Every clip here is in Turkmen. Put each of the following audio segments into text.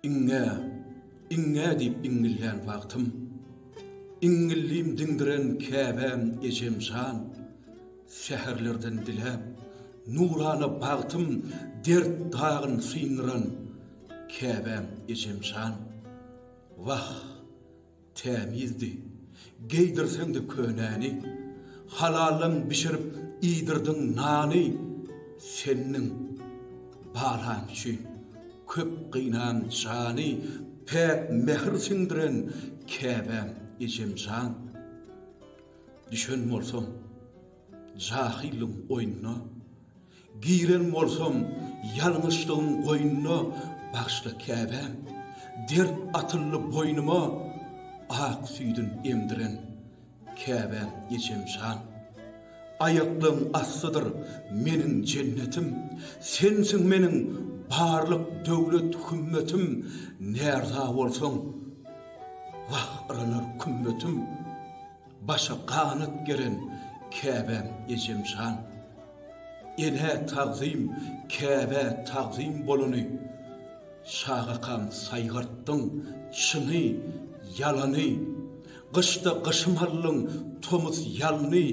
Iňňä, iňňä diýip iňňillän wagtym, Iňňillim diňdiren käbäm ejem jan, Säherlerden diläp, nurana bagtym, Dert dagyn syndyran käbäm ejem jan. Wah! Tämizdi, geýdirseň-de könäni. Halaldan bişirip iýdirdiň nany. Sendiň, balaň üçin köp gynan jany. Päk mähir siňdiren käbäm, ejemjan. Düşen bolsaň. Jahylyň oýnuna Giren bolsam ýalňyşlygyň goýnuna Bagyşla Käbäm, dert atyldy boýnuma Ak süýdün emdiren Käbäm ejem jan Aýaklaň astydyr meniň jennetim Sensiň meniň barlyk döwlet hümmetim Närza bolsaň wah yranar kümmetim. Başa ganat geren Käbäm ejem jan. Enä tagzym, Käbä tagzym bolany. Şagakam saýgartdyň çyny, ýalany. Gyşda gyşym aldyň, tomus ýalny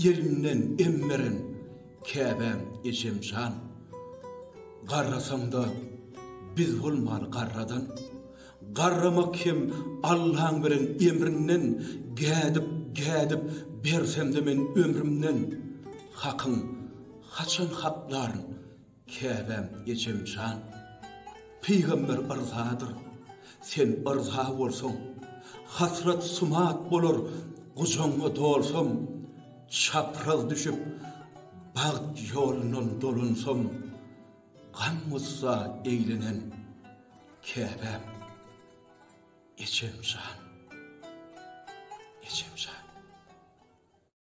elinden em beren Käbäm ejem jan. Garrasaňda biz bolmaly garradan. Garramak hem Allaň beren emrinden gädip, gädip bersemde men ömrümden Hakyň haçan haklaryn käbäm ejem jan Pygamber yrzadyr sen yrza bolsaň Hasrat sumat bolar gujagyňa dolsam Çapraz düşüp bagt ýolundan dolansam Gam-gussa eýlenen Käbäm, ejem jan, ejem jan.